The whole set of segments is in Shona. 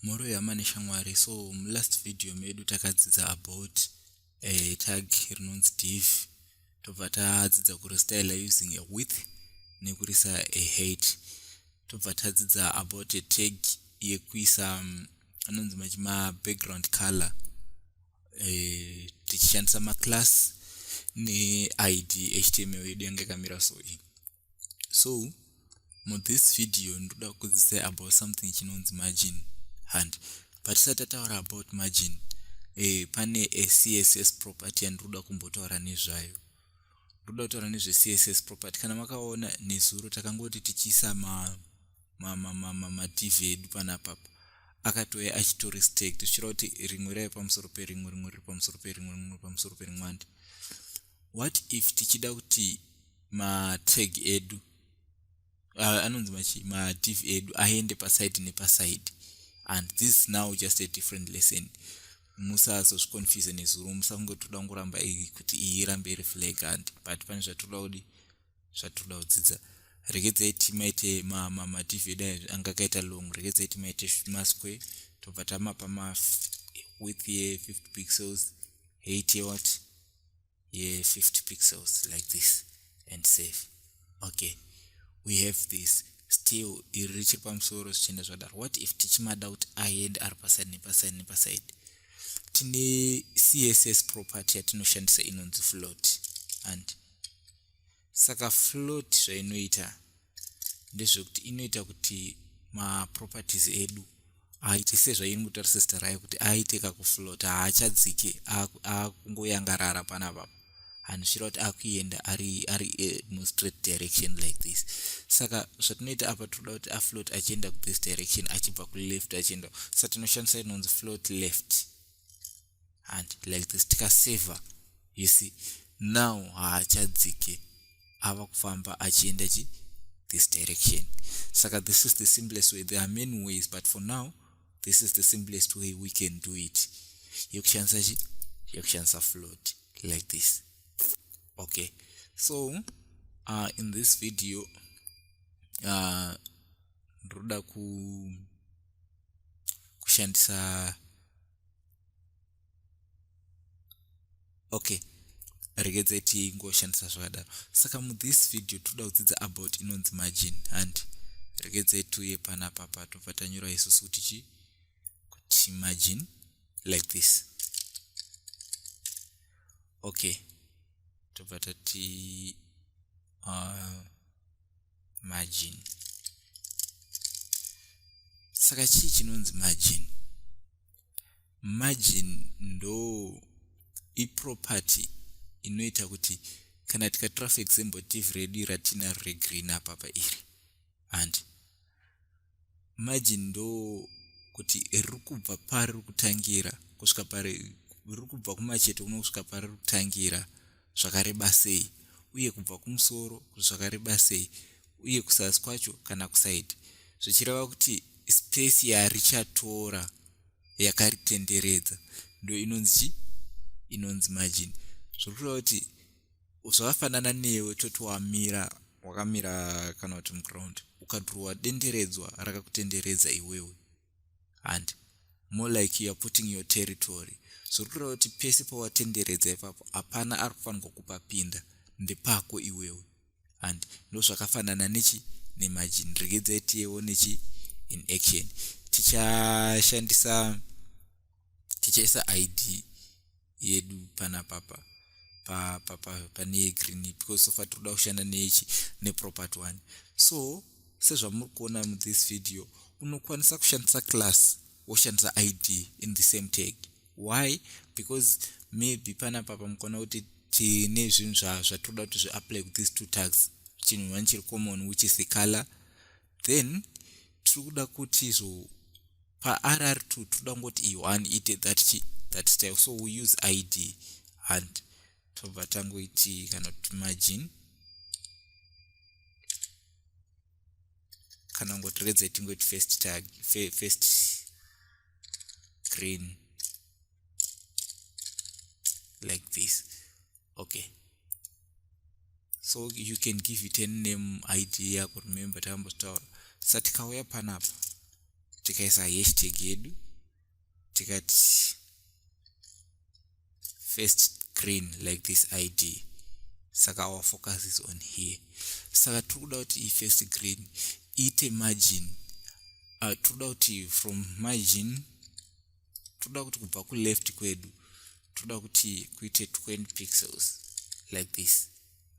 mhoro yama neshamwari so mulast video medu takadzidza about uh, tag rinonzi div tobva tadzidza kurestyle using a width nekurisa a hate tobva tadzidza about a tag yekuisa um, anonzi machi mabackground color e, tichishandisa maclass neid html yedu yange kamira so in so muthis video ndoda kukudzisai about something chinonzi margin hand patisati tataura about margin e, pane acss property yandinoda kumbotaura nezvayo ndoda kutaura nezvecss property kana makaona nezuro takangoti tichiisa ma matv edu panapapa akatouya achitorestect zvichira kuti rimwe raive pamusoro perimwe rimwe riri pamusoro perimwe rimwe pamusoro perimwe handi what if tichida kuti matag edu anonzi matv edu aende paside nepaside and this now just a different lesson musazozviconfuse nezuro musange toda kungoramba iyi kuti iyi irambe iri flag and but pane zvatoda kudi zvatoda kudzidza regedzai timaite matv edu ayo anga akaita long regedzai timaite masque tobva tamapa mawith ye 50 pixels 8 yewat ye 50 pixels like this and save okay we have this still iri richiri pamusoro zvichienda zvadaro what if tichimada kuti aende ari paside nepaside nepaside tine css property yatinoshandisa inonzi float and saka float zvainoita ndezvekuti inoita kuti maproperties edu aite sezvairi kutaurisa zita rayo kuti aite kakufloat haachadzike akungoyangarara panapa hanisvira kuti akuenda ari ari eh, mustraight direction like this saka zvatinoita apa tinoda kuti afloat achienda kuthis direction achibva kuleft achienda saka tinoshandisa inonzi float left and like this tikasaver you see now haachadzike ava kufamba achienda chi this direction saka this is the simplest way there are many ways but for now this is the simplest way we can do it yekushandisa chi yekushandisa float like this okay so uh, in this video uh, ndoda ku kushandisa okay regedzai tingoshandisa zvakadaro saka muthis video toda kudzidza about inonzi margin handi regedzai tuye panapa patobva tanyora isusu kuti chii kuti margin like this okay tobva tati uh, margin saka chii chinonzi margin margin ndo iproperty inoita kuti kana tikatora for example div redu ratinaro regreen apapa iri handi maji ndo kuti riri kubva pari riri kutangira kusvika pari riri kubva kumacheto kuno kusvika pari riri kutangira zvakareba sei uye kubva kumusoro kuti zvakareba sei uye kusasi kwacho kana kusaidi zvichireva kuti spesi yarichatora yakaritenderedza ndo inonzi chii inonzi margin zviri kureva kuti zvakafanana newe toti wamira wakamira kana kuti muground ukadhurowa denderedzwa rakakutenderedza iwewe and more like youare putting your territory zviri kureva kuti pese pawatenderedza ipapo hapana ari kufanirwa kupapinda ndepako iwewe and ndozvakafanana nechi nemajini regedzai tiyewo nechi in action tichashandisa tichaisa id yedu pana papa pa pa pa pane green because so far tikuda kushanda nechi ne property one so sezvamuri kuona mu this video unokwanisa kushandisa class woshandisa id in the same tag why because maybe pana papa mukaona kuti tine zvinhu zvazvatoda kuti zviapply with these two tags chinhu one chiri common which is the color then tiri kuda kuti so parr2 tiri kuda kungoti iyo one ite that chi that style so we use id and tobva tangoiti kana kuti margin kana kungoti redza itingoiti first tag first green like this okay so you can give it any name id yako remember tambotaura sa tikauya panapa tikaisa hashtag yedu tikati first green like this id saka our focus is on here saka tiri kuda kuti ifirst green iite margin uh, tiri kuda kuti from margin toda kuti kubva kuleft kwedu toda kuti kuite 20 pixels like this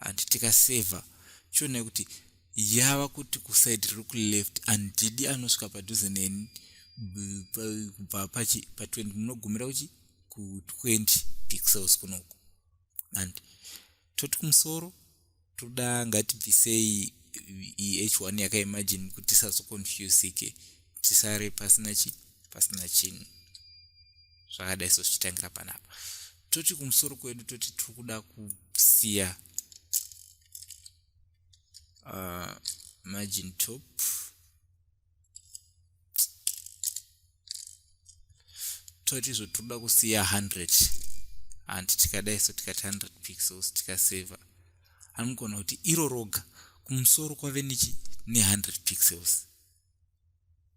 and tikasaver chionai kuti yava kuti kuside riri kuleft and didi anosvika padhuze neni kubva pa20 munogumira kuchi ku20 pixels kunoku and toti kumusoro toda ngatibvisei eh, h1 yakaimagine kuti tisazoconfusike tisare pasina chi pasina chinhu zvakadai so zvichitangira panapa toti kumusoro kwedu toti tiri kuda kusiya uh, margin top toti izvo tinoda kusiya 100 and tikadai so tikati 100 pixels tikasaver anogona kuti iro roga kumusoro kwave nechi ne100 pixels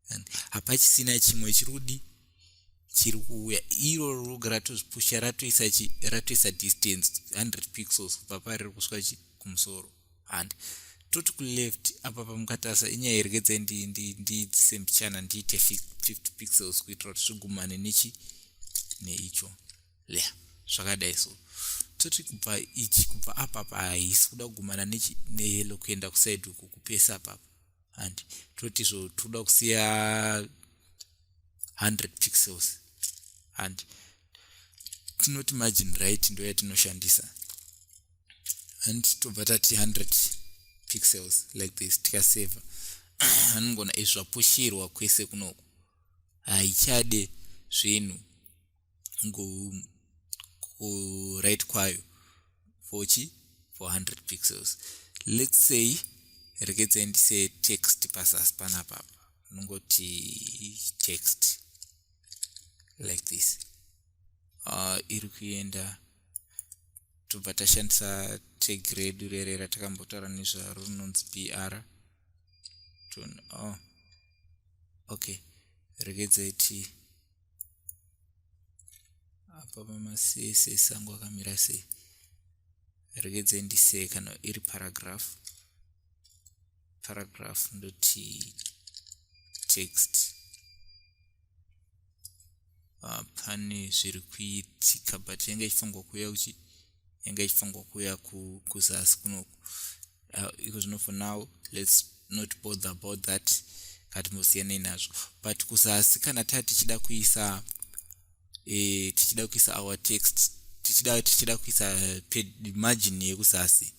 and hapachisina chimwe chiri kudi chiri kuuya iro roga ratozvipusha ratoisa chi ratoisa distance 100 pixels kubva pariri kusvika chi kumusoro and toti kuleft apa pamukatarisa inyaya iregedzai ndiitise mbichana ndiite 50 pixels kuitira kuti zvigumane nechi neicho le zvakadai so toti kubva ichi kubva apa pa haisi kuda kugumana neyelo kuenda kusaidi uku kupesa papa and toti zvo toda kusiya 100 pixels and tinoti margin right ndoyatinoshandisa and tobva tati 100 pixels like this tikaseva anongona izvapushirwa kwese kunoku haichade zvinhu kurit kwayo fochi 400 pixels let's say rekedzai ndise text pazasi panapapa unongoti text like this uh, iri kuenda tobva tashandisa tag redu rere ratakambotaura nezvaro rinonzi br ton oh. okay regedzai tii apa pamasese sango akamira sei regedzai ndisee kana iri paragraph paragraph ndoti text ah, pane zviri kuitika but yanga ichifanirwa kuuya kuchi yanga ichifanirwa kuuya kuzasi kunoku ah, iko zvino for now lets not bother about that katimbosiyanei nazvo but kuzasi kana taa tichida kuisa e, tichida kuisa our text tichida tichida kuisa margin yekuzasi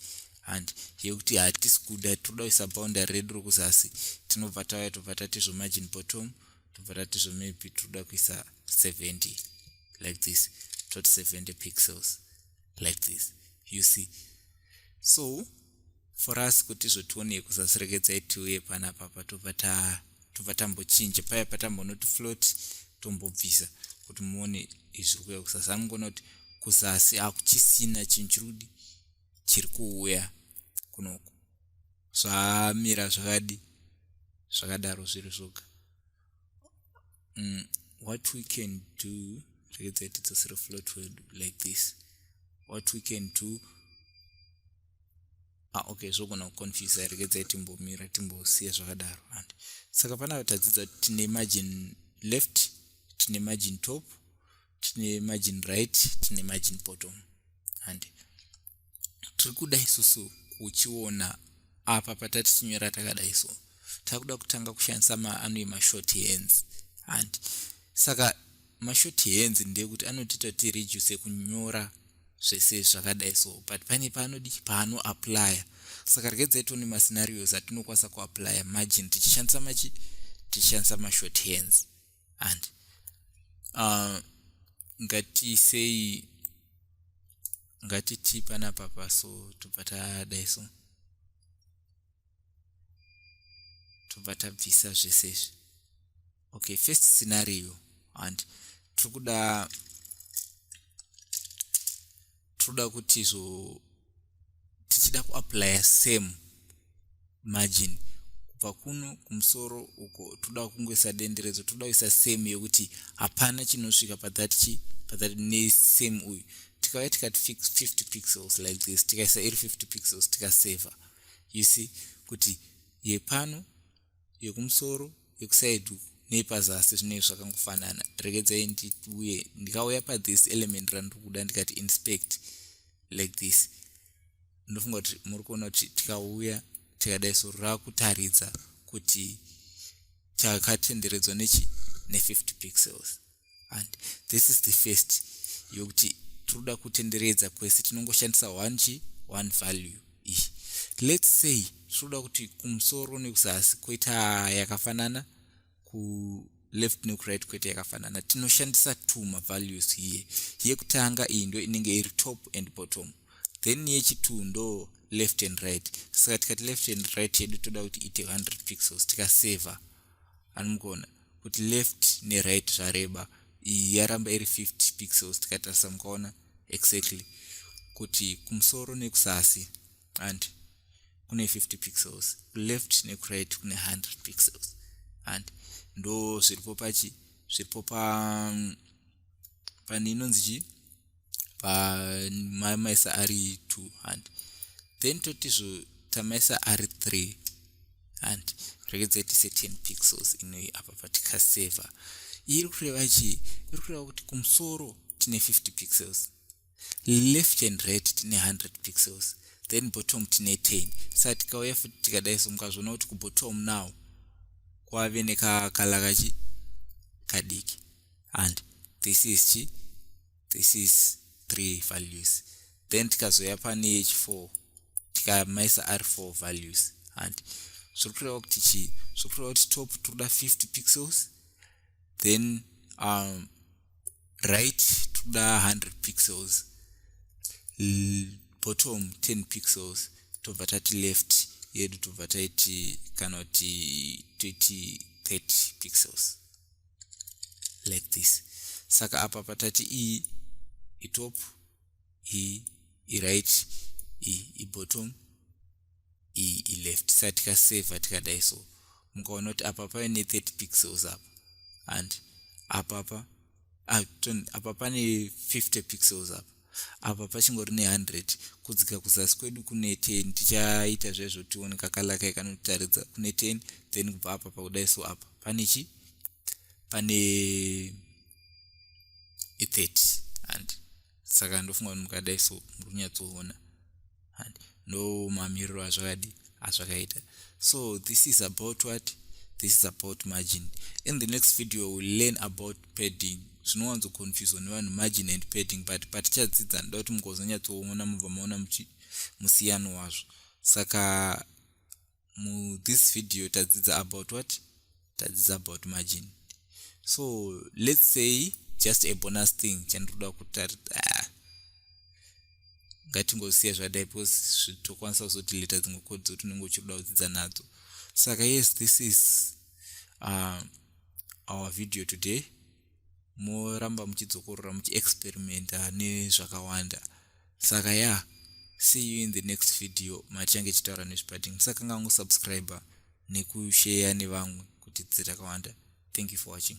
and yekuti hatisi kuda tinoda kuisa boundary redu rokuzasi tinobva tauya tobva tatizvo margin bottom tobva tati zvo maybe tinoda kuisa 70 like this toti 70 pixels like this you see so for us kuti izvo tione kusaserekedza itiuye panapa patobva ta tobva tambochinja paya patambonoti float tombobvisa kuti muone izviri kuya kusasa anongoona kuti kuzasi akuchisina chinhu chiri kudi chiri kuuya kunoku zvamira zvakadi zvakadaro zviri zvoga mm, what we can do rekedza tidzosere float wedu like this what we can do ah, okay zvogona kuconfuse rekedza timbomira timbosiya zvakadaro and saka panapa tadzidza tine margin left tine margin top tine margin right tine margin bottom handi tiri kuda isusu kuchiona apa patatichinyora takadai so takuda kutanga kushandisa maanoe mashort hands handi saka mashort hands ndekuti anotiita kuti reduce kunyora zvese zvakadai so but pane paanodi paano applya saka regedzai tione mascenarios atinokwanisa kuaplya margin tichishandisa machi tichishandisa mashort hands and uh, ngatisei ngatiti panapa paso tobva tadai so tobva tabvisa zvese izvi okay first scenario and tiri kuda tinoda kuti so tichida kuaplya same margin kubva kuno kumusoro uko toda kungoisa denderedzo toda kuisa same yekuti hapana chinosvika pathat chi pathat nesame uyu tikauya tikati fix 50 pixels like this tikaisa iri 50 pixels tikasaver you see kuti yepano yekumusoro yekuside uku neyepazasi zvinei zvakangofanana regedzai ndiuye ndikauya pathis element randiri kuda ndikati inspect like this ndofunga kuti muri kuona kuti tikauya tikadai soro rakutaridza kuti takatenderedzwa nechi ne50 pixels and this is the first yokuti tinoda kutenderedza kwese tinongoshandisa one chi one value iyi let's say tinoda kuti kumusoro nekuzasi koita yakafanana kuleft nekuright koita yakafanana tinoshandisa two mavalues here yekutanga iyi ndo inenge iri top and bottom then yechitwo ndo left and right saka tikati left and right yedu toda kuti ite 100 pixels tikasaver anomukuona kuti left neright zvareba iyi yaramba iri 50 pixels tikatarisa mukaona exactly kuti kumusoro nekusasi and kune 50 pixels kuleft nekuright kune 100 pixels and ndo zviripo pachi zviripo pa mm, pane inonzi chii pamaisa ari two and then totizvo tamaisa ari three and regedzai tise ten pixels inoi apa patikaseva iri kureva chii iri kureva kuti kumusoro tine 50 pixels left and right tine 100 pixels then bottom tine 10 sa tikauya futi tikadai so mukazviona kuti kubottom now kwave nekakala kachi kadiki and this is chi this is three values then tikazoya pane yechi four tikamaisa ari four values and zviri kureva kuti chii zviri kureva kuti top tinoda 50 pixels then um, right tinoda 100 pixels L bottom 10 pixels tobva tati left yedu tobva taiti kana kuti toiti 30 pixels like this saka apa patati iyi itop iyi iright iyi ibottom iyi ileft sa tikaseva tikadai so mukaona kuti apa pave ne30 pixels apa and apapa ah, apa pane 50 pixels apa apa pachingori ne 100 kudzika kuzasi kwedu kune 10 tichaita zvezvo tione kakalaka ikanotaridza kune 10 then kubva apa pakudai so apa pane chi pane i30 and saka ndofunga kuti mukadai so muri kunyatsoona no mamiriro azvakadi azvakaita so this is about what this is about margin in the next video we'll learn about padding zvinowanzoconfuswa nevanhu margin and padding but patichadzidza ndoda kuti mugozonyatsoona mubva maona musiyano wazvo saka mu this video tadzidza about what tadzidza about margin so let's say just a bonus thing chandinoda kutari ah, ngatingosiya zvadai because tokwanisa kuzoti leta dzimwe kodi dzoti unenge uchirikuda kudzidza nadzo saka yes this is uh, our video today moramba muchidzokorora muchiexperimenta nezvakawanda saka ya yeah, see you in the next video matichange ichitaura nezvepadding musakanga vangu subscriber nekusheya nevamwe kuti dzirakawanda thank you for watching